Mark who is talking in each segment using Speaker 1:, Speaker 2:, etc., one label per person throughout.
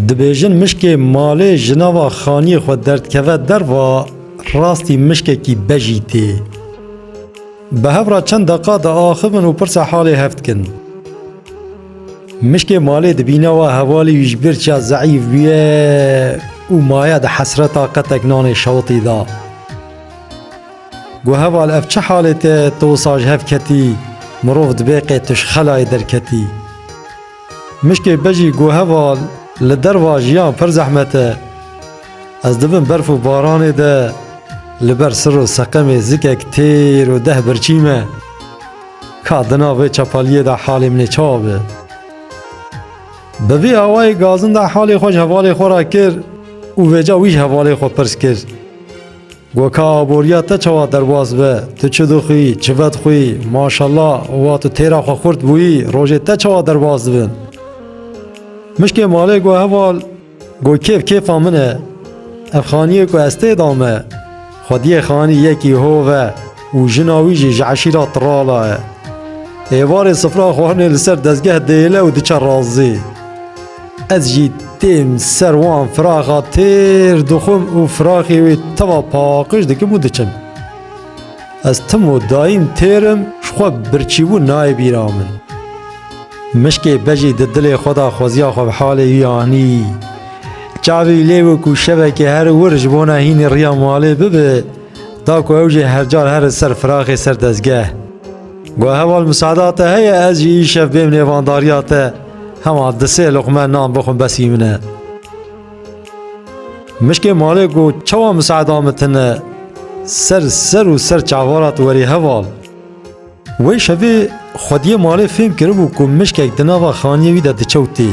Speaker 1: Dibêjin mişkê malê ji nava xaniyê xwe derdikeve derva rastî mişkekî bejî tê. Bi hev re çend deqa diaxivin û pirsa halê hev dikin. Mişkê malê dibîne wa hevalî wî ji bir çiya zeîf bûye û maye di hesreta qetek nanê şewitî da. Got heval ev çi halê te tu wisa ji hev ketî mirov dibê qê tu ji xelayê derketî. Mişkê bejî got heval li derva jiyan pir zehmet e. Ez dibin berf û baranê de li ber sir û seqemê zikek têr û deh birçî me. Ka di nav vê çepaliyê de halê min ê çawa be. Bi vî awayê gazin de halê xwe ji hevalê xwe re kir û vêca wî ji hevalê xwe pirs kir. Go ka aboriya te çawa derbas be, tu çi dixwî, çi vedixwî, maşallah wa tu têra xwe xurt bûyî, rojê te çawa derbas dibin. Mişkê malê go heval, go kêf kêfa min e. Ev xaniyê ku ez tê da me, xwediyê xanî yekî hov e û jina wî jî ji eşîra Tirala e. Êvarê sifra xwarinê li ser dezgeh dêle û diçe razî. Ez jî têm ser wan firaxa têr dixwim û firaxê wê teva paqij dikim û diçim. Ez tim û dayîn têrim ji xwe birçîbûn nayê bîra min. Mişkê bejî di dilê xwe de xweziya xwe bi halê wî anî. Çavê wî lê bû ku şevekê her wir ji bona hînî riya malê bibe, da ku ew jê hercar here ser firaxê ser dezgeh. Got heval misada te heye ez jî îşev bêm nêvandariya te hema di sê luqme nan bixwim besî min e. Mişkê malê ku çawa misada min tine ser ser û ser çavara tu werî heval. Wê şevê xwediyê malê fêm kiribû ku mişkek di nava xaniyê wî de diçewtê.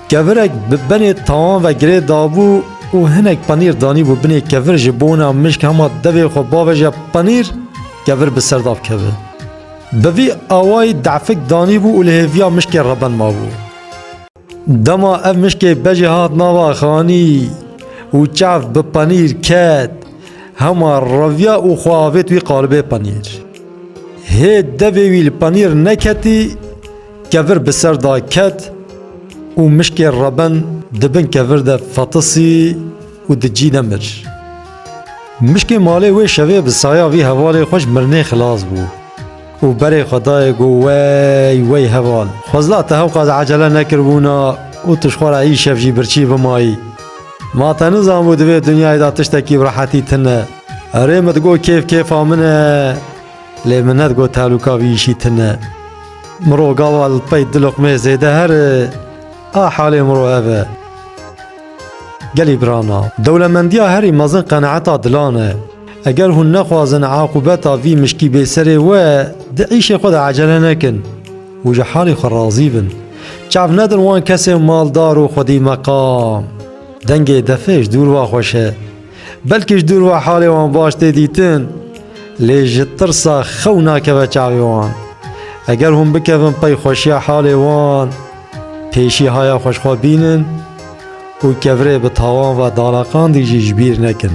Speaker 1: Kevirek bi benê tawan ve girê dabû û hinek penîr danîbû binê kevir ji bona mişk hema devê xwe baveje penîr kevir bi ser dav keve. Bi vî awayî defik danîbû û li hêviya mişkê reben mabû. Dema ev mişkê bejê hat nava xanî û çav bi penîr ket hema reviya û xwe avêt wî qalibê penîr. Hê devê wî li penîr neketî, Kevir bi ser da ket û mişkê Reben di bin kevir de fetisî û di cî de mir. Mişkê malê wê şevê bi saya vî hevalê xwe ji mirinê xilas bû û berê xwe dayê ku Wey, wey heval, xwezla te hewqas ecele nekiribûna û tu ji xwe re îşev jî birçî bimayî. Ma te nizanbû di vê dinyayê de tiştekî bi rehetî tune. Erê min digot kêf kêfa min e. Lê minet got tehlûka vî îşî tune. Miro gava li pey du luqmeyê zêde here, a halê miro ev e. Gelî birana, dewlemendiya herî mezin qenaeta dilan e. Eger hûn nexwazin aqûbeta vî mişkî bê serê we, di îşê xwe de ecele nekin û ji halê xwe razî bin. Çav nedin wan kesên maldar û xwedî meqam. Dengê defê ji dûr va xweş e. Belkî ji dûr ve halê wan baş tê dîtin, lê ji tirsa xew nakeve çavê wan. Eger hûn bikevin pey xweşiya halê wan, pêşî haya xwe ji xwe bînin û kevirê bi tawan ve danaqandî jî ji bîr nekin.